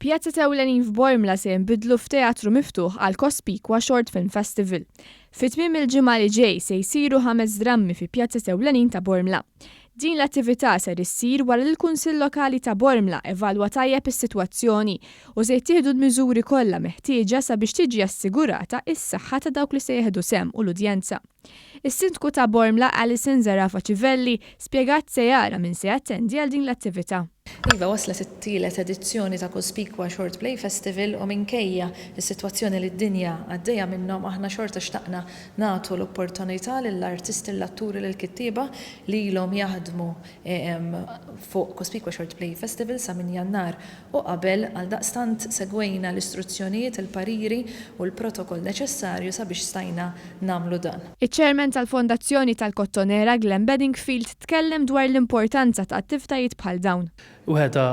Pjazet ewlenin f'Bormla se jinbidlu f'teatru miftuħ għal Cospicua Short Film Festival. Fi tmiem il-ġimgħa li ġej se jsiru ħames drammi fi pjazet ewlenin ta' Bormla. Din l-attività ser issir wara li l-Kunsill Lokali ta' Bormla evalwa tajjeb is-sitwazzjoni u se jittieħdu l-miżuri kollha meħtieġa sabiex tiġi assigurata s-saħħa ta' dawk li se jieħdu sehem u l-udjenza. Is-Sindku ta' Bormla Alison Zerafa Civelli spjegat se jara min se jattendi għal din l-attività. Iva, waslet it-tielet edizzjoni ta' Cospicua Short Play Festival u minkejja s-sitwazzjoni li d-dinja għaddejja minnhom aħna xorta xtaqna nagħtu l-opportunità lill-artisti, lill-atturi, lill-kittieba li ilhom jaħdmu fuq Cospicua Short Play Festival sa minn Jannar u qabel, għaldaqstant segwejna l-istruzzjonijiet, il-pariri u l-protokoll neċessarju sabiex stajna nagħmlu dan. Iċ-Chairman tal-Fondazzjoni tal-Kottonera, Glenn Bedingfield, tkellem dwar l-importanza ta' attivtajiet bħal dawn. Waħda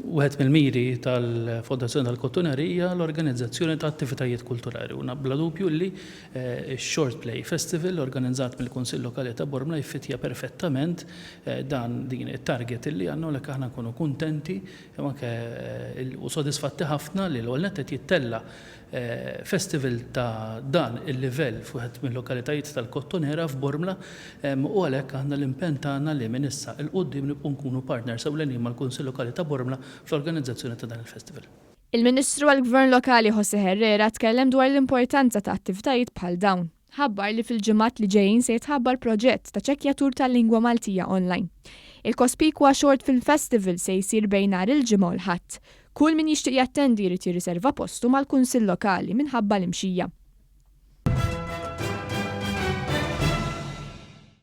wieħed mill-miri tal-Fondazzjoni tal-Kottoneri hija l-organizzazzjoni ta' attivitajiet kulturali u bla dubju li x-Short Play Festival organizzat mill-Kunsill Lokali ta' Bormla jfittja perfettament dan, din, it-target li għandna u għalhekk aħna nkunu kuntenti jew anke u sodisfatti ħafna li l-ewwel nett qed jittella' festival ta' dan il-livell f'wieħed mil-lokalitajiet tal-Kottonera f'Bormla u għalhekk aħna l-impenn tagħna li minn issa 'l quddiem nibqgħu nkunu partners ewlenin mal-Kunsill Lokali ta' Bormla fl-organizzazzjoni ta' dan il-festival. Il-Ministru għall-Gvern Lokali José Herrera tkellem dwar l-importanza ta' attivtajiet bħal dawn. ħabbar li fil-ġimgħat li ġejjin se jitħabbar proġett ta' ċekkjatur tal-lingwa Maltija online. Il-kospikwa Short Film Festival se jsir bejn nhar il-Ġimgħa u l-Ħadd. Kull min jixtieq jattendi jrid jirriserva postu mal-Kunsill Lokali minħabba l-imxija.